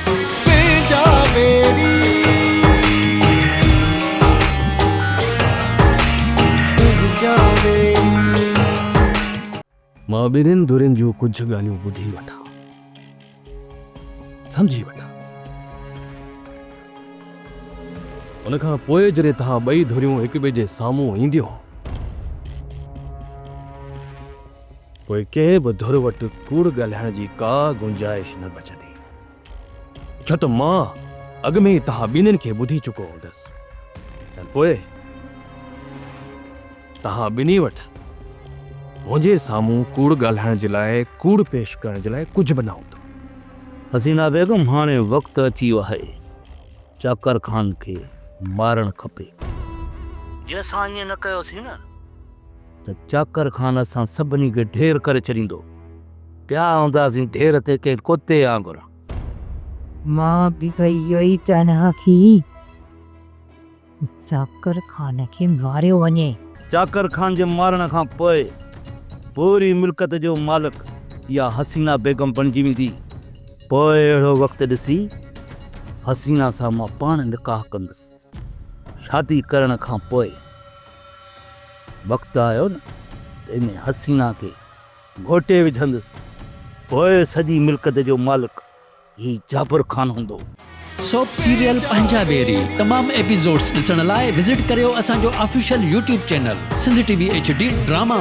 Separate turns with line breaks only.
تنهنجا ويري تنهنجا ويري. مان ٻنهين ڌرين جون ڪجهه ڳالهيون ٻڌي وٺان سمجهي وٺان ان کان پوء جڏهن توهان ٻئي ڌريون هڪٻئي جي سامهون اينديون. پوء ڪنهن به ڌر وٽ ڪوڙ ڳالهائڻ جي ڪا گنجائش نه بچندي، ڇو ته مان اڳ ۾ ئي توهان ٻنهين کي ٻڌي چڪو هوندس ۽ پوء توهان ٻنهي وٽ منهنجي سامهون ڪوڙ ڳالهائڻ جي لاء، ڪوڙ پيش ڪرڻ جي لاء ڪجهه به نه هوندو. حسينا
بيگم، هاڻي وقت اچي ويو آهي، چاڪر خان کي مارڻ کپي. جي اسان ائين نه ڪيوسين نه ته چاڪر خان اسان سڀني کي ڍير ڪري ڇڏيندو. پيا هونداسين ڍير تي ڪنهن ڪتي آنگر.
مان به اهو ئي چاهيان ها ته چاڪر خان کي ماريو وڃي. چاڪر خان جي
مارڻ کان پوء پوري ملڪيت جو مالڪ اها حسينا بيگم بڻجي ويندي. پوء اهڙو وقت ڏسي حسينا سان مان پاڻ نڪاح ڪندس. شادي ڪرڻ کان پوء وقت آيو نه ته ان حسينه کي گهوٽي وجهندس. پوء سڄي ملڪت جو مالڪ هي جابر خان هوندو. سوپ
سيريل پنهنجا ويري تمام ايپيسوڊس ڏسڻ لاء وزٽ ڪريو اسان جو official YouTube channel Sindh T V H D drama.